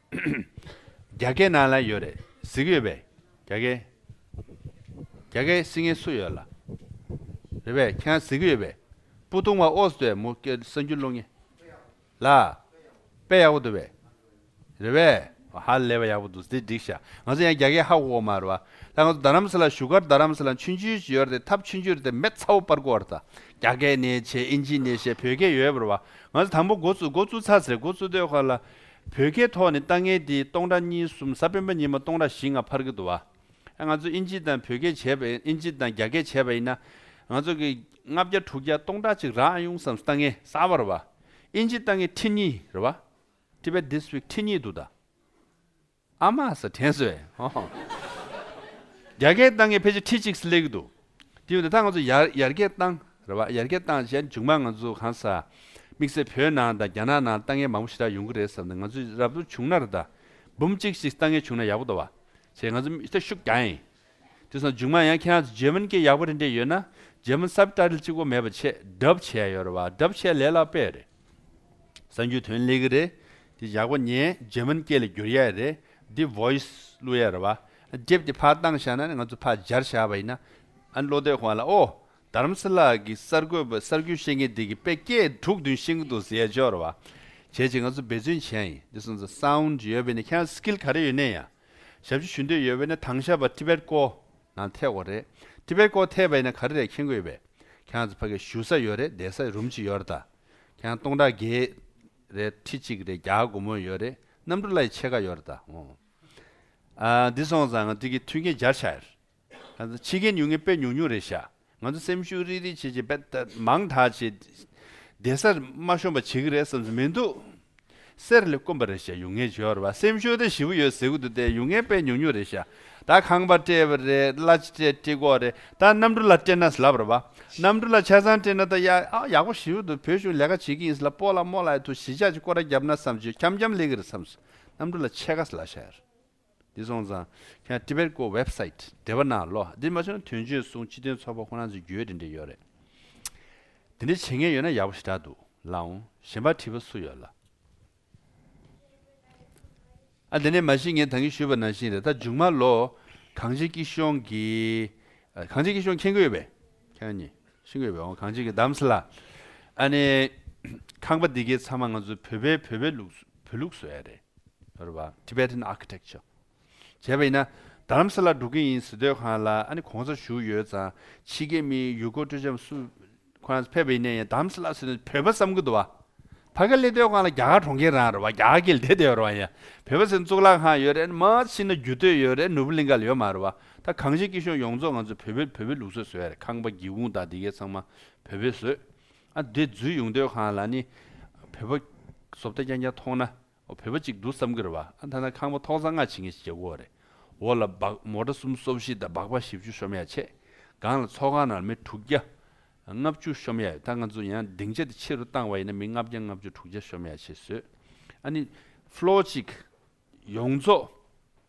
རྒྱ་སྐད་ནང་ལ་ཡོད་རེད་གཟིགས་ཡོད་པས་རྒྱ་སྐད། རྒྱ་སྐད་གཟིགས་མཁན་སུ་ཡོད་ལ། རེད་པས་ཁྱེད་རང་གཟིགས་ཡོད་པས་སྤུ་བཏུང་བ་ཨོ་སི་ཏྲེ་མོ་སྐད་གསར་འགྱུར་ཀློག་ངེས། ལ། དཔེ་ཡག་པོ་འདུག་པས། རེད་པས། ཧ་ལས་པ་ཡག་པོ་འདུག་དེ་འགྲིག་ཤག་ང་ཚོ་ཡང་རྒྱ་སྐད་ཧ་གོ་གོ་མ་རེད་བ། ད་ང་ཚོ་རྡ་རམ་ས་ལ་བཞུགས་སྒར་རྡ་རམ་ས་ལ་མཆོད་མཇུག་ཅིག་ཡོད་རེད་ཐབས་མཆོད་མཇུག་རེད་དེ་མེད་ཚ་བོ་པར་གོ་བར་ད་རྒྱ་སྐད་ནས་བྱས་ཨིན་ཇི་ནས་བྱས་བོད་སྐད་ཡོད་པར་བ། ང་ཚོ་དང་པོ་འགོ་བཙུགས་འགོ་བཙུགས་ཚར་ཚེ་འགོ་བཙུགས་སྡོད་ཁང་ལ། བོད་སྐད་ཐོག་ནས་ལྟ་ངན་དེ་སྟོང་ཕྲག་གཉིས་གསུམ་གཟའ་སྤེན་པ་ཉིན་མོ་སྟོང་ཕྲག་བཞི་ལྔ་ཕར་གི་འདུག་བ། ང་ཚོ་ཨིན་ཇི་དང་བོད་སྐད་བྱས་པ་ཨིན་ཇི་དང་རྒྱ་སྐད་བྱས་པ་ཡིན་ན། ང་ཚོ་གི། ལྔ་བརྒྱ་དྲུག་བརྒྱ་སྟོང་ཕྲག་གཅིག་རག་ཨང་ཡོང་བསམ་ལྟ་ངན་གསར་བ་རེད་བ། ཨིན་ཇི་ལྟ་ངན་ཁྲི་གཉིས་རེད་བ། Tibet District ཁྲི་གཉིས་འདུག་ད། ཨ་མ་ཟེར་དྲན་བཟོས། ཡར་རྒྱས་བཏང་མཁན་ཕལ་ཆེར་ཁྲི་གཅིག་སླེབས་ཀྱི་འདུག་དེ་བས་ད་ང་ཚོ་ཡར་ཡར་རྒྱས་བཏང་རེད་བ་ཡར་རྒྱས་བཏང་བྱས་མཇུག་མ་ང་ཚོ་གང་ཟག་དམིགས་བསལ་བོད་ནང་དང་རྒྱ་ནག་ནང་ལྟ་མཁན་མང་པོ་ཞེ་དྲག་ཡོང་གི་རེད་བསམ་ནས་ང་ཚོས་རབ་ཏུ་བྱུང་ན་རེ་ད་འབུམ་གཅིག་ཞིག་ལྟ་མཁན་བྱུང་ན་ཡག་པོ་འདུག་བ་བྱས་ང་ཚོ་མི་ཤུགས་རྒྱག་ཨེ། དེ་སོང་མཇུག་མ་ཡང་ཁྱེད་རང་ཚོ་རྗེ་དབོན་སྐད་ཡག་པོ་རེ་འདྲེས་ཡོད་ན་རྗེ་དབོན་སབ་ཏཱ་རིལ་གཅིག་པོ་མེད་པ་ཆེད་གྲབས་བྱས་ཡོད་རེད་བ་གྲབས་བྱས་ལས་ལག་པས་རེད་བསམ་རྒྱུ་དོན་ལེགས་གི་རེད་དེ་ཡག་པོ་ཉན་རྗེ་དབོན་སྐད་ལ་བསྒྱུར་ཡས་རེད་འདི voice བླུག་ཡས་རེད་བ་སྒྲེབས་ཏེ་ཕར་བཏང་བཞག་ན་ནི་ང་ཚོ་ཕར་སྦྱར་བཞག་བ་ཡིན་ན། ཨ་བློ་གཏད་ཁོང་ལ་ཨོ། དར་མ་སི་ལགས་ཀྱི་གསར་འགོད་པ་གསར་འགྱུར་བཤད་མཁན་དེ་གི་དཔེ་སྐད་དྲུག་བདུན་བཤད་གི་འདུག་ཟེར་ཡས་ཆོག་རེད་བ། བྱས་ཅི་ང་ཚོ་འབད་བརྩོན་བྱས་ཡིན་འདི་སོང་ཙང sound ཡོད་པས་ནི་ཁྱེད་རང་ཚོ skill ག་རེ་ཡོད་ནས་ཡང། ཞབས་ཕྱི་ཞུ་འདོད་ཡོད་བས་ན་དང་ཞབས་པ Tibet ཀོ་ནང་ཐེག་དགོས་རེད Tibet ཀོ་ཐེག་པ་ཡིན་ན་ག་རེ་རེད་མཁྱེན་དགོས་ཡོད་པས་ཁྱེད་རང་ཚོ་ཕ་གི་ཞུ་ས་ཡོད་རེད་བསྡད་ས་རུམ་གཅིག་ཡོད་རེད་ད་ཁྱེད་རང་སྟོང་ཕྲག་བརྒྱད་རེད་ཁྲི་གཅིག་རེད་བརྒྱ་དགུ་མོ་ཡོད་རེད་གནམ་གྲུ་གླ་ཡི་ཕྱེད་ཀ་ཡོད་རེད་ད་ཨོ་ཨ་འདི་སོང་ཙང་ང་ཏིག་གི་མཐུན་རྐྱེན་སྦྱར་ཆགས་ཡོད་རེད། ཕྱི་རྒྱལ་ཉུང་ངེ་དཔེ་ཉུང་ཉུང་རེད་བཞག་ང་ཚོ་སེམས་ཤུགས་རིག་རིག་བྱེད་བྱེད་དཔེ་མང་དག་བྱེད། བདེ་སར་དམའ་ཤོམ་པ་བྱེད་ཀྱི་རེད་བསམ་ཚུལ་མི་འདུག། གསེར་ལས་དཀོན་པ་རེད་བཞག་ཡུང་ངེ་བྱོས་ར་སེམས་ཤུགས་དེ་ཞི་བོ་ཡོད་ཟེར་གྱི་འདུག་དེ་ཡུང་ངེ་དཔེ་ཉུང་ཉུང་རེད་བཞག་ད་ཁང་པ་སྤྲད་པ་རེད་གླ་ཆ་སྤྲད་སྤྲི་གོག་རེད་ད་གནམ་གྲུ་ལ་སྤྲད་ན་ལབ་ར་བ་གནམ་གྲུ་ལ་ཆ་ཚང་སྤྲད་ན་ད་ཡག་པོ་ཞི་བོ་འདུག་བོད་གཞུང་ལས་ཀ་བྱེད་ཀྱི་ཡིན་ས་ལ་སྤོ་ལ་རྨོ་ལ་ཡི་ཐུག་གཞིས་ཆགས་ཀྱི་སྐོར་ར་རྒྱབ་ན་བསམ་ཆོས་འཁྱམ་འཁྱམ་ལེགས་ཀྱི་རེད་བསམ་སོང་གནམ་གྲུ་ལ་ཆས་ཁ་ས་ལ་བཞག་ཡོད་རེད། འདི་སོང་ཙང་ཁྱེད་རང Tibet Go Website བདེ་བ་ནང་ལོག་འདིར་མ་ཆོག་དོན་གཅོད་གསུང་སྤྱི་དོན་ཚོགས་པ་ཁོ་རང་ཚོའི་རྒྱུའི་འབྲེལ་འདྲེ་ཡོད་རེད་དེ་འདྲེ་བྱེད་མཁན་ཡོད་ན་ཡག་པོ་ཞེ་དྲག་འདུག་ལགས་འོང་གཞན་པ་དྲི་བ་སུ་ཡོད་ལ། ཨ་དེ་ནས་མ་ཤི་ངས་དང་གིས་ཞུས་པ་ནང་བཞིན་རེད་ད་འཇུག་མ་ལོ། གངས་ཅན་སྐྱིད་གཤོངས་ཀྱི། གངས་ཅན་སྐྱིད་གཤོངས་མཁྱེན་དགོས་ཡོད་པས། ཁྱེད་རང་གཉིས། ཤིང་བའི་འོད་འོང་གངས་ཅན་གྱི་འདམ་ས་ལ། ཨ་ནེ། ཁང་པ་འདི་གའི་ཚང་མ་ང་ཚོའི་བོད་པའི་བོད་པའི་ལུགས་སུ་བོད་ལུགས་སུ་ཨེ་རེད། རེད་བ། Tibetan Architecture། བྱས་པ་ཡིན་ན། འདམ་ས་ལ་འགྲོ་གི་ཡིན་ཟི་སྡོད་ཁང་ལ་ཨ་ནེ་གོང་ས་བཞུགས་ཡོད་ཙང་ཕྱི་རྒྱལ་མི་ཡུལ་སྐོར་སྤྲོ་འཆམ་སུ། ཁོ་རང་ཚོ་ཕེབས་པ་ཡིན་ན་ཡང་འདམ་ས་ལ་ཟི་སྡོད་བོད་པ་བསམ་གི་འདུག་བ། ཕ་ག་ལེ་སྡོད་ཁང་ལ་རྒྱ་གར་གྲོང་ཁྱེར་རང་རེད་བ་རྒྱ་གར་གྱི་ལེ་སྡོད་རེད་བ་ཡང་བོད་པ་ཟི་སྡོད་གཙུག་ལག་ཁང་ཡོད་རེད་མ་ཟི་ན་རྒྱུ་སྟོད་ཡོད་རེད་ནོར་བུ་གླིང་ག་ལ་ཡོད་མ་རེད་བ། ད་གངས་ཅན་སྐྱིད་ཤོག་ཡོངས་རྫོགས་ང་ཚོ་བོད་པའི་བོད་པའི་ལུགས་སྲོལ་བཟོས་ཡར་ཁང་པ་སྒེའུ་ཁུང་དག་འདི་གའི་ཚང་མ་བོད་པའི་བཟོས་ཨ་འདི་འཛུལ་ཡོང་སྡོད་ཁང་ལ་ནི་བོད་པ་བཟོ་བལྟ་རྐྱང་རྐྱང་མཐོང་ན་བོད་པ་ཅིག་འདུག་བསམ་གི་རེད་བ་ཨ་ད་ན་ཁང་པ་ཐོག་ཚ་ངར་བྱེད་མཁན་ཞིག་རྒྱག་གོ་རེད་འོ་ལ་སྦག་མོ་གྲ་སུམ་སོ་བཞི་དང་སྦག་པ་བཞི་བཅུ་ཤོམ་ཡ་ཆེད་སྒང་ལ་ཚོགས་ཁང་ནང་མི་དྲུག་བརྒྱ་ལྔ་བཅུ་ཤོམ་ཡ་ཡོད་ད་ང་ཚོ་ཡང་སྡིངས་ཆ་དེ་ཕྱི་རུ་བཏང་བ་ཡིན་ན་མི་ལྔ་བརྒྱ་ལྔ་བཅུ་དྲུག་བརྒྱ་ཤོམ་ཡ་ཆེད་བཟོས་ཨ་ནི Floor གཅིག་ཡོངས་རྫོགས།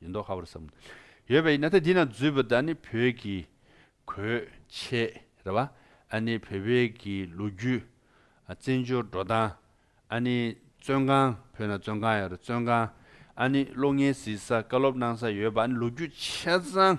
ཡོད་མདོག་ཧ་བར་བསམ། ཡོད་པའི་ཡིན་ན་ད་འདི་ན་འཛུལ་བ་དག་ནི་བོད་ཀྱི་གོས་ཆས་རེད་བ། ཨ་ནི་བོད་པའི་གི་ལོ་རྒྱུས། བཙན་བྱོལ་འགྲོ་སྟངས། ཨ་ནི་བཙོན་ཁང་བོད་ན་བཙོན་ཁང་ཡོད་རེད་བཙོན་ཁང། ཨ་ནི་གློག་བརྙན་གཟིགས་ས་བཀའ་སློབ་གནང་ས་ཡོད་པ་ཨ་ནི་ལོ་རྒྱུས་ཆ་ཚང་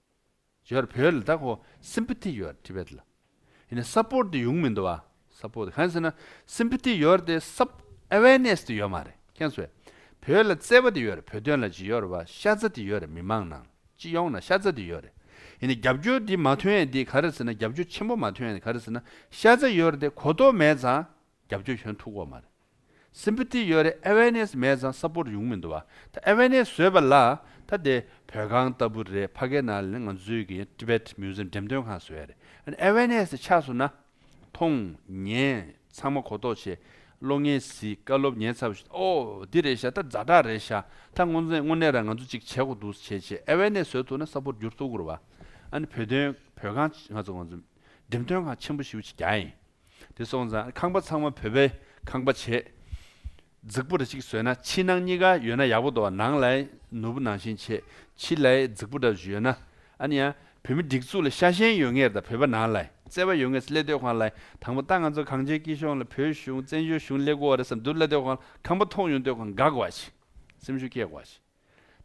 བརྗོད་བོད་ལ་དག་གོ Sympathy ཡོད Tibet ལ་ཡིན་ན Support དེ་ཡོང་མི་འདུག་བ Support གང་ཟེར་ན Sympathy ཡོད་དེ Sup Awareness དེ་ཡོད་མ་རེད་ཁྱེད་ཚོས་བོད་ལ་བརྩེ་བ་དེ་ཡོད་རེད་བོད་དོན་ལ་ཇི་ཡོད་རེད་བ་ཤ་ཚ་དེ་ཡོད་རེད་མི་མང་ནང་སྤྱི་ཡོངས་ན་ཤ་ཚ་དེ་ཡོད་རེད་ཡིན་ན་རྒྱབ་སྐྱོར་དེ་མ་ཐོན་ཡ་དེ་ག་རེ་ཟེར་ན་རྒྱབ་སྐྱོར་ཆེན་པོ་མ་ཐོན་ཡ་དེ་ག་རེ་ཟེར་ན་ཤ་ཚ་ཡོད་རེད་དེ་གོ་རྟོགས་མེད་ཙང། རྒྱབ་ཆོས་གཞོན་ཐུག་འོག་མ་རེད། Sympathy ཡོད་རེད Awareness མེད་ཙང Support ཡོང་མི་འདུག་བ། ད Awareness བཟོས་པ་ལ་ད་དེ་བོད་ཁང་ལྟ་བུ་རེད་ཕ་གའི་ནང་ལ་ནི་ང་ཚོའི་གི Tibet Museum འགྲེམས་སྟོན་ཁང་བཟོས་རེད། ཨ་ནི Awareness དེ་ཆགས་སོང་ན། མཐོང། ཉན། ཚང་མ་གོ་རྟོགས་བྱེད། བློ་ངན་གཟིགས་བཀའ་སློབ་ཉན་ཚར་བ་ཞིག་ཨོ། འདི་རེད་ཤག་ད་རྫ་དྲག་རེད་ཤག་ད་དངོས་གནས་དངོས་གནས་ར་ང་ཚོ་ཅིག་བྱེད་དགོས་འདུག་བྱེད་བྱེད Awareness བཟོས་ཐུག་ན Support འགྱུར་ཐུག་གོ་རེད་བ། ཨ་ནི་བོད་དོན་བོད་ཁང་ང་ཚོ་ང་ཚོ་འགྲེམས་སྟོན་ཁང་ཆེན་པོ་ཞིག་ཡོད་ཅིག་རྒྱ་ཡིན། དེ་སོང་ཙང་ཁང་པ་ཚང་མ་བོད་པའི་ཁང་པ་བྱས། རྫིག་པོ་འདྲ་གཅིག་བཟོས་ན་ཕྱི་ནང་གཉིས་ཀ་ཡོད་ན་ཡག་པོ་འདུག་ནང་ལའི་ནོར་བུ་ནང་བཞིན་བྱས་ཕྱི་ལའི་རྫིག་པོ་འདྲ་བཟོས་ཡོད་ན་ཨ་ནི་ཡང་བོད་མི་སྒྲིག་འཛུགས་ལ་ཤ་ཞེན་ཡོད་ངེས་རེད་ད་བོད་པ་ནང་ལའི་བརྩེ་བ་ཡོད་ངེས་སླེ་སྡོད་ཁང་ལའི་དང་པོ་ལྟ་ང་ཚོ་གངས་ཅན་སྐྱིད་གཤོངས་ལ་བོད་གཞུང་བཙན་བྱོལ་གཞུང་སླེ་དགོ་བ་རེད་བསམ་འདུག་སླེ་སྡོད་ཁང་ལ་ཁང་པ་ཐོག་ཡོང་སྡོད་ཁང་དགའ་དགོ་བ་བྱས་སེམས་ཤུགས་སྐྱེ་དགོ་བ་བྱས།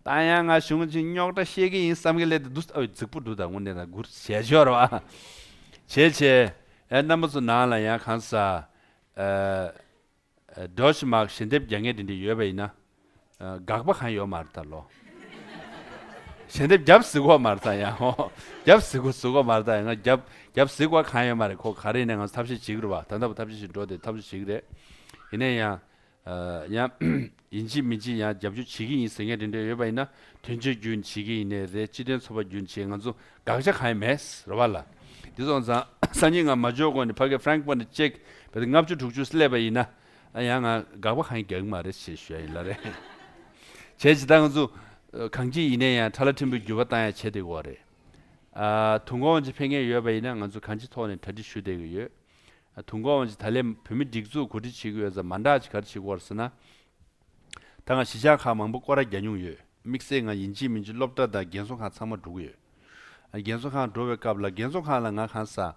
ད་ཡང་ང་གཞུང་གཅིག་རྙོག་དྲ་ཤེས་ཀྱི་ཡིན་བསམ་གི་ལས་དེ་འདུག་ས་འོད་རྫིག་པོ་འདུག་ད་དངོས་གནས་ད་གུར་ཞལ་ཤོར་བ། བྱས་བྱས། ཨེ་རྣམ་པ་ཚོ་ནང་ལ་ཡང་གང་ཟག། སྒྲོ་ཞི་མག་ཞལ་འདེབས་རྒྱ་ངན་འདི་འདྲ་ཡོད་པ་ཡིན་ན། དགག་པ་གང་ཡོད་མ་རེད་ད་ལོ། ཞལ་འདེབས་རྒྱབ་གཟིགས་འོག་མར་ད་ཡང་ཧོ། རྒྱབ་གཟིགས་འོག་གཟིགས་འོག་མར་ད་ཡང་ང་རྒྱབ་རྒྱབ་གཟིགས་བ་གང་ཡོད་མ་རེད་ཁོ་ག་རེ་ཡིན་ན་ང་ཚོ་ཐབས་ཤེས་བྱེད་ཀྱི་རེད་བ་ད་འདའ་བ་ཐབས་ཤེས་བྱེད་འགྲོ་དེ་ཐབས་ཤེས་བྱེད་ཀྱི་རེད། ཡིན་ན་ཡང། ཡང། ཡིན་གཅིག་མིན་གཅིག་ཡང་རྒྱབ་སྐྱོར་བྱེད་ཀྱི་ཡིན་ཟེར་མཁན་དེ་འདྲ་ཡོད་པ་ཡིན་ན་དོན་གཅོད་རྒྱུ་བྱེད་ཀྱི་ཡིན་ནི་རེད་སྤྱི་དོན་འཚོལ་བ་རྒྱུ་བྱེད་ང་ཚོ་དགག་བྱ་གང་ཡང་མེད་རེད་བ་ལ། དེ་སོང་ཙང་སང་ཉིན་ང་མ་འབྱོར་གོང་ནས་ཕ་སྐད Frank པོ་ནས་ཅེག་བས་ལྔ་བཅུ་དྲུག་ཅུ་སླེབས་པ་ཡིན་ན་ཡང་ང་དགག་པ་གང་ཡང་རྒྱག་གི་མ་རེད་ཞེས་ཞུ་ཡ་ཡིན་ལ་རེད། བྱས་ཇི་ལྟར་ང་ཚོ་གང་སྐྱིད་ཡིན་ན་ཡང་ཁྲ་ལ་ཁྲིམས་པོའི་འགྱུར་བ་བཏང་ཡ་བྱེད་བསྡད་དགོས་བ་རེད། དུང་གོང་ཅིག་འཕེན་མཁན་ཡོད་པ་ཡིན་ན་ང་ཚོ་གང་ཅི་ཐོག་ནས་གྲ་སྒྲིག་ཞུ་བསྡད་ཀྱི་ཡོད། དུ་འགོ་འོང་ཅིག་ད་ལས་བོད་མི་སྒྲིག་འཛུགས་གོ་སྒྲིག་བྱེད་གི་ཡོད་ས་མ་འདྲ་ཅིག་ག་རེ་བྱེད་དགོ་ར་ཟེར་ན། ད་ང་གཞིས་ཆགས་ཁག་མང་པོ་སྐོར་ར་རྒྱ་མྱུང་ཡོད་དམིགས་བསལ་ང་ཡིན་གཅིག་མིན་གཅིག་སློབ་གྲ་དང་རྒན་གསོ་ཁང་ཚང་མ་འགྲོ་གི་ཡོད། རྒན་གསོ་ཁང་འགྲོ་བའི་སྐབས་ལ་རྒན་གསོ་ཁང་ལ་ང་གང་ས།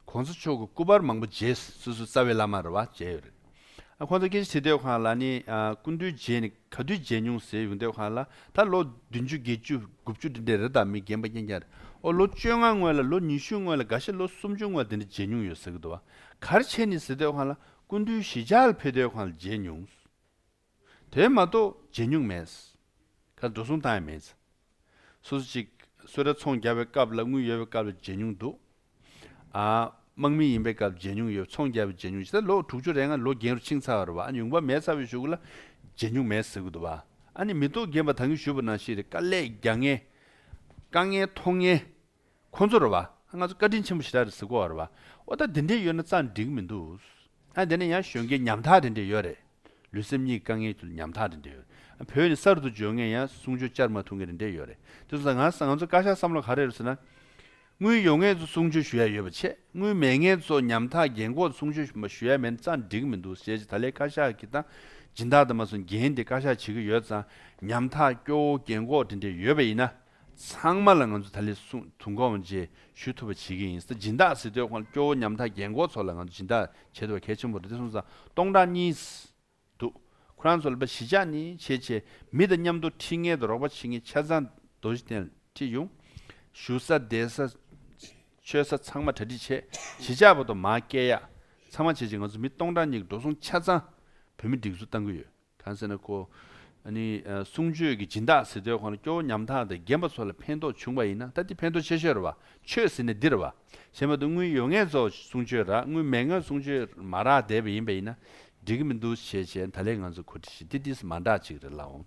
གོང་ས་མཆོག་གི་སྐུ་པར་མང་པོ་མཇལ་སོ་སོའི་རྩ་བའི་བླ་མ་ར་བ་མཇལ་ཡོད་རེད། ཁོང་ཚོ་སྐད་ཆ་དྲིས་སྡོད་ཁང་ལ་ནི་སྐུ་མདུན་རྗེས་ནི་ག་དུས་མཇལ་མྱོང་ཟེར་ཡོང་སྡོད་ཁང་ལ་ད་ལོ་བདུན་བཅུ་བརྒྱད་བཅུ་དགུ་བཅུ་དེ་འདྲའི་རི་དྭགས་མི་རྒན་པ་རྐྱེན་རྒྱ་རོ་ལོ་བཅོ་ལྔ་སྔོན་ལ་ལོ་ཉི་ཤུ་སྔོན་ལ་འགའ་ཤས་ལོ་སུམ་ཅུ་སྔོན་དེ་འདྲ་མཇལ་མྱོང་ཡོད་ཟེར་གི་འདུག་བ་གར་ཆེན་ནི་ཟེར་སྡོད་ཁང་ལ་སྐུ་མདུན་ཞི་ཇག་ལ་ཕེབས་སྡོད་ཁང་ལ་མཇལ་མྱོང། དེ་མ་གཏོགས་བརྗེད་མྱོང་མེད། ཁ་འགྲོ་སོང་བཏང་ཡས་མེད། སོ་སོ་ཅིག་སོས་ར་ཚོང་རྒྱག་པའི་སྐབས་ལ་དངུལ་ཡོད་པའི་སྐབས་ལ་བརྗེད་མྱོང་འདུག། དམག་མི་ཡིན་པའི་སྐབས་བརྗེད་མྱོང་ཡོད་ཚོང་རྒྱག་པའི་བརྗེད་མྱོང་ཇི་ལྟར་ལོ་དྲུག་ཅུ་རེ་ལྔ་ལོ་རྒན་རུ་ཕྱིང་ཚ་བ་རུ་བ་ཨ་ཉུང་བ་མེད་ཚ་བའི་ཞུགས་ལ་བརྗེད་མྱོང་མེད་ཟེར་གི་འདུག་བ་ཨ་ནི་མི་རྟོག་རྒན་པ་ད་གིན་ཞུས་པ་ནང་བཞིན་རེད་དཀའ་ལས་རྒྱག་ངེས་དཀའ་ངལ་མཐོང་ངེས། ཁོང་ཚོར་བ། ང་ཚོ་བཀའ་དྲིན་ཆེན་པོ་ཞེ་དྲག་རེད་ཟེར་གོ་བར་བ། ཨོ་ད་འདི་འདྲས་ཡོད་ན་ཙང་འགྲིག་མི་འདུག། ཨ་དེ་ནས་ཡང་གཞོན་སྐྱེས་ཉམ་ཐག་དེ་འདྲས་ཡོད་རེད། ལུས་སེམས་གཉིས་ཀ་དཀའ་ངལ་ཁྱུར་ཉམ་ཐག་དེ་འདྲས་ཡོད་རེད། བོད་ནས་གསར་དུ་འབྱོར་ངས་ཡང་གསུང་ཆོས་བཅར་མ་ཐུབ་མཁན་དེ་འདྲས་ཡོད་རེད། དེ་ཚོ་ལ་ང་ང་ཚོ་བཀའ་ཤག་བསམ་བློ་ག་རེ་རེད་ཟེར་ན། དངུལ་ཡོད་ངེས་ཚོ་གསུང་ཆོས་ཞུ་ཡ་ཡོད་པ་ཆེ། དངུལ་མེད་ངེས་ཚོ་ཉམ་ཐག་རྒན་འཁོགས་གསུང་ཆོས་མ་ཞུ་ཡ་མེད་ན་ཙང་འགྲིག་མི་འདུག་ཞེས་ད་ལས་བཀའ་ཤག་གི་དང་སྦྱིན་བདག་དང་མ་སོ་འགན་དེ་བཀའ་ཤག་བྱེད་ཀྱི་ཡོད་ཙང་ཉམ་ཐག་སྐྱོ་བོ་རྒན་འཁོགས་དེ་འདྲས་ཡོད་པ་ཡིན་ན། ཚང་མ་ལ་ང་ཚོས་ད་ལས་སུང་དུང་གོང་བརྗེ་ཞུ་ཐུབ་པ་བྱེད་ཀྱི་ཡིན་ས་སྦྱིན་བདག་སྲིད་དོན་ཁང་སྐྱོ་བོ་ཉམ་ཐག་རྒན་འཁོགས་ཚོ་ལ་ང་ཚོས་སྦྱིན་བདག་བྱེད་ཐུབ་པ་གལ་ཆེན་པོ་རེད་དེ་སོང་ས་སྟོང་ཕྲག་གཉིས་འདུག་ཁོ་རང་ཚོ་ལ་བ་གཞི་ཆགས་ནི་བྱེད་བྱེད་མི་དང་མཉམ་དུ་ཁྲིད་མཁན་དུ་རོགས་པ་བྱེད་མཁན་ཆ་ཚང་རྡོ་རྗེ་གདན་ལ་ཁྲིད་ཡོང། ཞུ་ས་བསྡད་ས། ཆོས་ས་ཚང་མ་གྲ་སྒྲིག་བྱས་གཞི་ཆགས་པ་དུ་མ་སྐལ་ཡག་ཚང་མ་བྱེད་བྱེད་ང་ཚོ་མི་སྟོང་ཕྲག་གཉིས་ཀྱི་འགྲོ་སོང་ཆ་ཚང་བོད་མི་སྒྲིག་འཛུགས་གཏང་གི་ཡོད། གང་ཟེར་ན་ཁོ་ནི་གསུང་ཆོས་ཀྱི་སྦྱིན་བདག་ཟེར་དུས་ཁོ་རང་སྐྱོ་བོ་ཉམ་ཐག་དང་རྒན་པ་ཚོ་ལ་ཕན་ཐོགས་བྱུང་བ་ཡིན་ན་ད་འདི་ཕན་ཐོགས་ཆེ་ཤོས་རེད་བ་ཆོས་ཟེར་ནས་འདིར་བ་ཞེས་མ་འདུག་དངུལ་ཡོད་ངེས་ཚོ་གསུང་ཆོས་རག་དངུལ་མེད་ངོས་གསུང་ཆོས་མ་རག་བསྡད་པ་ཡིན་པ་ཡིན་ན་འགྲིག་གི་མི་འདུག་ཞེས་བྱས་ད་ལེ་ང་ཚོ་གོ་ཁྲི་ཞི་བདེ་འདིས་མ་འདྲ་ཅིག་རེད་ལགས་འོང།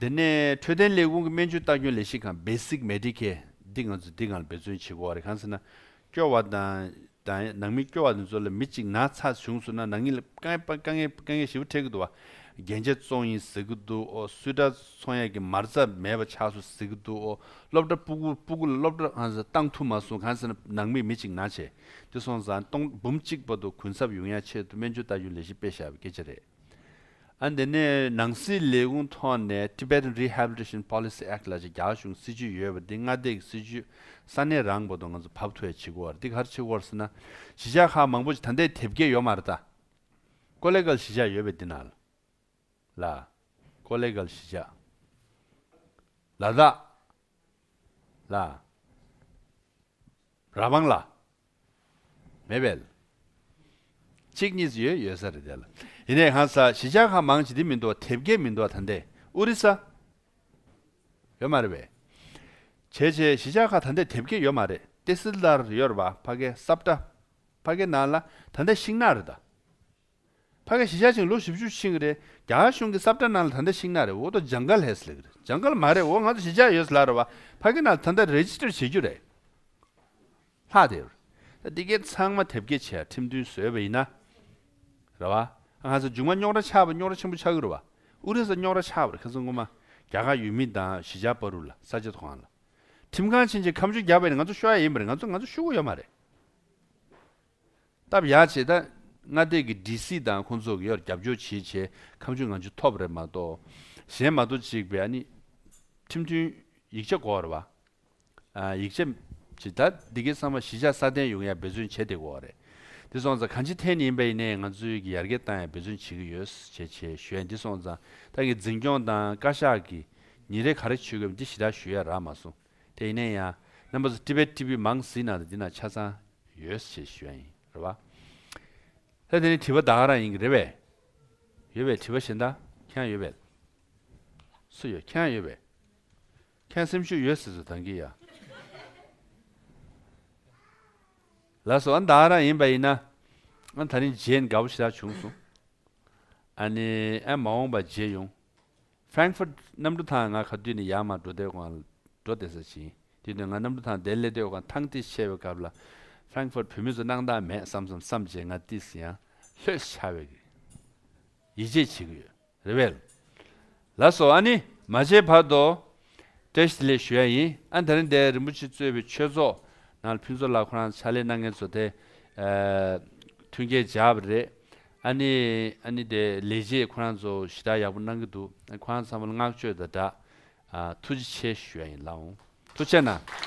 དེ་ནས་འཕྲོད་བསྟེན་ལས་ཁུངས་ཀྱི་སྨན་བཅོས་ལྟ་སྐྱོང་ལས་གཞི་ཁང། Basic Medicare། འདི་ང་ཚོས་འདི་གང་ལ་འབད་བརྩོན་བྱེད་དགོས་བ་རེད་གང་ཟེར་ན། སྐྱོ་བ་དང་དང་ནང་མི་སྐྱོ་བ་དེ་ཚོ་ལ་མི་གཅིག་ན་ཚ་བྱུང་སོང་ན་ནང་མི་ལ་དཀའ་དཀའ་ངལ་དཀའ་ངལ་ཞེ་བོ་འཕྲད་ཀྱི་འདུག་བ། རྒྱན་ཆ་བཙོང་ཡིན་ཟེར་གྱི་འདུག་ཨོ་སུས་དྲ་ཚོང་ཡག་གི་མར་རྩ་མེད་པ་ཆགས་སོང་ཟེར་གྱི་འདུག་ཨོ་སློབ་གྲྭ་སྤུ་གུ་སྤུ་གུ་ལ་སློབ་གྲྭ་གང་ཟེར་བཏང་ཐུབ་མ་སོང་གང་ཟེར་ན་ནང་མི་མི་གཅིག་ན་བྱས་དེ་སོང་ཙང་སྟོང་འབུམ་གཅིག་བར་དུ་གུན་གསབ་ཡོང་ཡ་ཆེད་དུ་སྨན་བཅོས་ལྟ་སྐྱོང་ལས་གཞི་སྤེལ་བཞག་པའི་སྐད་ཆ་རེད། ཨ་འདི་ནས་ནང་སྲིད་ལས་ཁུངས་ཐོག་ནས Tibetan Rehabilitation Policy Act ལ་ཅིག་རྒྱ་གཞུང་སྲིད་ཇུས་ཡོད་པ་འདི་སྔ་བལྟས་ཀྱི་སྲིད་ཇུས་ས་གནས་རང་བོ་དང་ང་ཚོ་བབ་ཐུ་ཡ་ཆི་གོར་འདི་གར་ཆི་གོར་སི་ན་གཞིས་ཆགས་ཁག་མང་པོ་ཅིག་ད་འདས་དེབ་སྐྱེལ་ཡོ་མ་ར་ད། ཀོ་ལེ་གལ་གཞིས་ཆགས་ཡོད་པའི་འདི་ན་ལ། ཀོ་ལེ་གལ་གཞིས་ཆགས། ལ་དྭགས། ལ། ར་བང་ལ། མེད་པས། གཅིག་གཉིས་སུ་ཡོད་ཡོད་ས་རེད་དེ་ལ། ཡིན་ནའི་གང་ཟག་གཞི་ཆགས་ཁ་མང་ཇི་སྟེ་མི་འདུག་དེབ་སྐད་མི་འདུག་ད་འདས་ཨོ་རི་ས། ཡོད་མ་རེད་པས། བྱས་བྱས་གཞི་ཆགས་ཁ་ད་འདས་དེབ་སྐད་ཡོད་མ་རེད་ཏེ་སིལ་དར་ཡོད་རེད་པ་ཕ་སྐད་སབ་སྒྲ། ཕ་སྐད་ནང་ལ་ད་འདས་ཤིང་ནག་རེད་ད། ཕ་གི་ཞི་ཞག་ཆིངས་ལོ་བཞི་བཅུ་ཆིངས་རེད་རྒྱ་གཞུང་གི་སབ་ཏྲ་ནང་ལ་ད་ལྟ་ཤིག་ན་རེད་འོ་ཏོ་ཇང་ག་ལྷས་ལིག་རེད་ཇང་ག་ལ་མ་རེད་འོ་ང་ཚོ་ཞི་ཞག་ཡོད་ལ་རེད་བ་ཕ་གི་ནང་ད་ལྟ་རེ་ཇི་ཏྲེར་བྱེད་རྒྱུ་རེད་ལྷག་དེ་རེད་འདི་གའི་ཚང་མ་དེབ་སྐྱེལ་བྱས་ཁྲིམས་མཐུན་བཟོས་བ་ཡིན་ན་རེད་བ་ང་ཚོ་ཇུག་མ་རྙོག་ར་ཆགས་པ་རྙོག་ར་ཆེན་པོ་ཆགས་ཀྱི་རེད་བ་ཨུ་རེ་ས་རྙོག་ར་ཆགས་པར་ཁ་ཚོན་ངོ་མ་རྒྱ་གར་ཡུལ་མི་དང་ཞི་ཞག་པ་རུ་ལ་ས་ཆ་ཐོག་ཁང་ལ་ཁྲིམས་ཁང་ཕྱིན་ཅིག་ཁམ་ཆུ་རྒྱག་པ་ཡིན་ན་ང་ཚོ་ཤོ་ཡ་ཡིན་པ་རེད་ང་ཚོ་ང་ཚོ་ཤུ་གུ་ཡ་མ་རེད། སྟབས་ཡག་བྱེད་ད། སྔ་བལྟས་ཀྱི་སྒྲིག་གཞི་དང་ཁོང་ཚོ་གི་ཡོར་རྒྱབ་སྐྱོར་བྱེད་བྱེད་ཁམས་ཆུ་ང་ཆུ་ཐོབ་རེད་མ་གཏོགས་གཞན་མ་གཏོགས་གཅིག་བས་ནི། ཁྲིམས་མཐུན། ཡིག་ཆ་གོ་རེད་བ། ཡིག་ཆ། བྱེད་ད་འདི་གའི་གསང་བ་གཞི་ཆགས་སྲ་བརྟན་ཡོང་ཡག་འབད་བརྩོན་བྱེད་དེ་གོ་རེད། དེ་སོང་ཙང་གང་ཅི་ཐེན་ཡིན་པ་ཡིན་ནའི་ང་ཚོའི་གི་ཡར་རྒྱས་ཏང་ཡག་འབད་བརྩོན་བྱེད་ཀྱི་ཡོད་བྱེད་བྱེད་གཞོན་འདི་སོང་ཙང་ཏང་གི་འཛིན་སྐྱོང་དང་བཀའ་ཤག་གི་ཉིན་རེ་ག་རེ་ཆོས་གོས་འདི་ཞི་དྲག་ཞུ་ཡ་རག་མ་སོང། དེ་ཡིན་ན་ཡང་རྣམ་པ་ཚོ Tibet TV མང་ཟིན་ནང་དུ་འདི་ན་ཆ་ཚང་ཡོད་ཞེས་ཞུ་ཡ་ཡིན་རེད་བ། ལྷ་དེ་ནི་དྲི་བ་བདག་ག་རང་ཡིན་གི་རེད་བས། ཡོད་བས་དྲི་བ་ཞེ་འདའ་ཁྱེད་ཡོད་བས། སུ་ཡོད་ཁྱེད་ཡོད་བས། ཁྱེད་སེམས་ཤུགས་ཡོད་ཟེར་ཟུར་དང་གི་ཡ། ལ་སོ་ཨ་བདག་ག་རང་ཡིན་བ་ཡིན་ན་ཨ་ད་རིང་རྗེས་འགའ་བོ་ཞེ་དྲག་བྱུང་སོང། ཨ་ནི་ཨ་མ་འོངས་བ་རྗེས་ཡོང། Frankfurt། གནམ་གྲུ་ཐང་ང་ག་དུས་ནས་ཡར་མར་འགྲོ་བདེ་བའི་སྒང་ལ་འགྲོ་བདེ་ས་བྱིན། དེ་དུས་ང་གནམ་གྲུ་ཐང་དེར་སླེབས་དུས་སྒང་ཐང་ཏིས་ཆེ་བའི་སྐབས་ལ། Frankfurt བོད་མི་ཚོ་སྣང་དག་མེད་བསམ་བསམ་བསམ་བྱས་ང་ཏིས་ཡང་ལྷོད་ཤ་བའི་གི། ཡིད་ཆེས་བྱེད་གི་ཡོད་རེད་བལ། ལ་སོ་ཨ་ནི་མ་བྱས་བར་དུ། ཏྲེ་ཞི་ལེ་ཞུ་ཡ་ཡིན་ཨ་ད་རིང་འདས་རིན་པོ་ཆེ་གཙོས་པའི་ཆོས་ཚོགས་ནང་ལ་ཕུན་ཚོགས་ལགས་ཁོ་རང་ཕྱག་ལས་གནང་མཁན་ཚོ་དེ། མཐུན་རྐྱེན་འཇགས་པ་རེད། ཨ་ནི། ཨ་ནི་དེ་ལས་རྗེས་ཁོ་རང་ཚོ་ཞི་དྲག་ཡག་པོ་གནང་གི་འདུག་ཁོ་རང་ཚང་མ་ལ་བསྔགས་བརྗོད་དང་སྦྲགས། ཐུགས་རྗེ་ཆེ་ཞུ་ཡ་ཡིན་ལགས་འོང་ཐུགས་ཆེ་གནང།